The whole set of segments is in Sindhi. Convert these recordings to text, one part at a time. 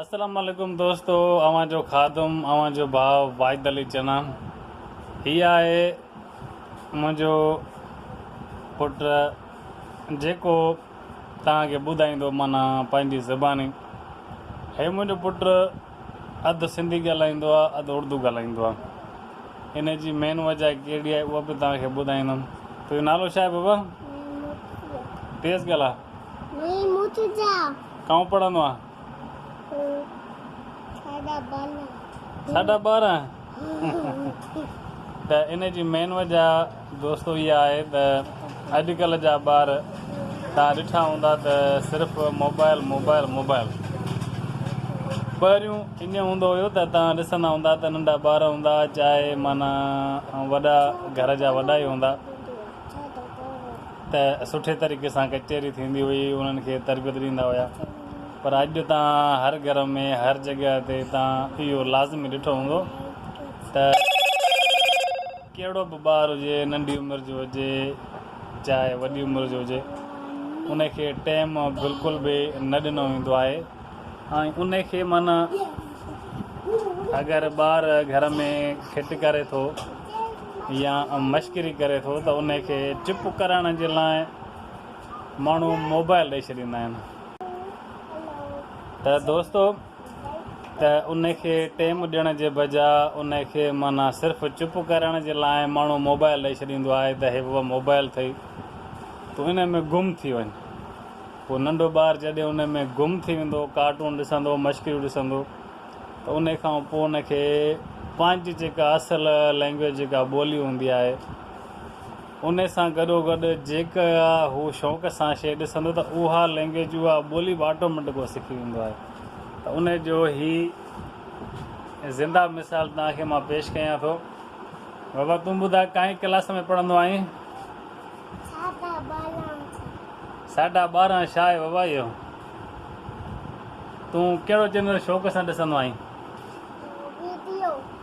السلام عليڪم دوستو اوهان جو خادم اوهان جو ڀاء واحد علي چنا هي آهي منهنجو پٽ جيڪو توهان کي ٻڌائيندو معنيٰ پنهنجي زباني هي منهنجو پٽ اڌ سنڌي ڳالهائيندو آ اڌ اردو ڳالهائيندو آ ان جي مين وجه ڪهڙي آهي اها به توهان کي ٻڌائيندم تنهنجو نالو ڇا آهي بابا تيز ڳالها ڪئون پڙهندو آ ساڍا ٻارهن ته ان جي مين وجه دوستو اها آهي ته اڄ ڪلهه جا ٻار توهان ڏٺا هوندا ته صرف موبائل موبائل موبائل. پهريون ائين هوندو هيو ته توهان ڏسندا هوندا ته ننڍا ٻار هوندا چاهي معنيٰ وڏا گهر جا وڏا ئي هوندا ته سٺي طريقي سان ڪچهري ٿيندي هئي انهن کي تربيت ڏيندا هيا. پر اڄ به توهان هر گهر ۾ هر جڳهه تي توهان اهو لازمي ڏٺو هوندو ته ڪهڙو به ٻار هجي ننڍي عمر جو هجي چاهي وڏي عمر جو هجي ان کي ٽيم بلڪل به نه ڏنو ويندو آهي ۽ ان کي معنيٰ اگر ٻار گهر ۾ کٽ ڪري ٿو يا مشڪري ڪري ٿو ته ان کي چپ ڪرائڻ جي لاء ماڻهو موبائل ڏئي ڇڏيندا آهن ته دوستو ته ان کي ٽيم ڏيڻ جي بجا ان کي معنيٰ صرف چپ ڪرڻ جي لاء ماڻهو موبائل ڏئي ڇڏيندو آهي ته هي بابا موبائل اٿئي تون ان ۾ گم ٿي وڃ پوء ننڍو ٻار جڏهن ان ۾ گم ٿي ويندو ڪارٽون ڏسندو مشڪريون ڏسندو ته ان کان پوء ان کي پنهنجي جيڪا اصل لينگويج جيڪا ٻولي هوندي آهي ان سان گڏوگڏ جيڪا هو شوق سان شيء ڏسندو ته اها لئنگئيج، اها ٻولي به آٽوميٽڪ هو سکي ويندو آهي ته ان جو هي زنده مثال توهان کي مان پيش ڪيان ٿو. بابا تون ٻڌاء ڪائين ڪلاس ۾ پڙهندو آهين؟ ساڍا ٻارهن سائين. ساڍا ٻارهن ڇا آهي بابا اهو؟ تون ڪهڙو چينل شوق سان ڏسندو آهين؟ ويڊيو.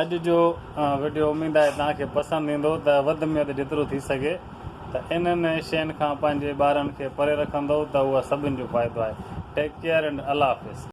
اڄ جو وڊيو اميد آهي توهان کي پسند ايندو ته وڌ ۾ وڌ جيترو ٿي سگهي ته انهن شين کان پنهنجي ٻارن کي پري رکندو ته اهو سڀن جو فائدو آهي ٽيڪ ڪيئر اينڊ الله حافظ.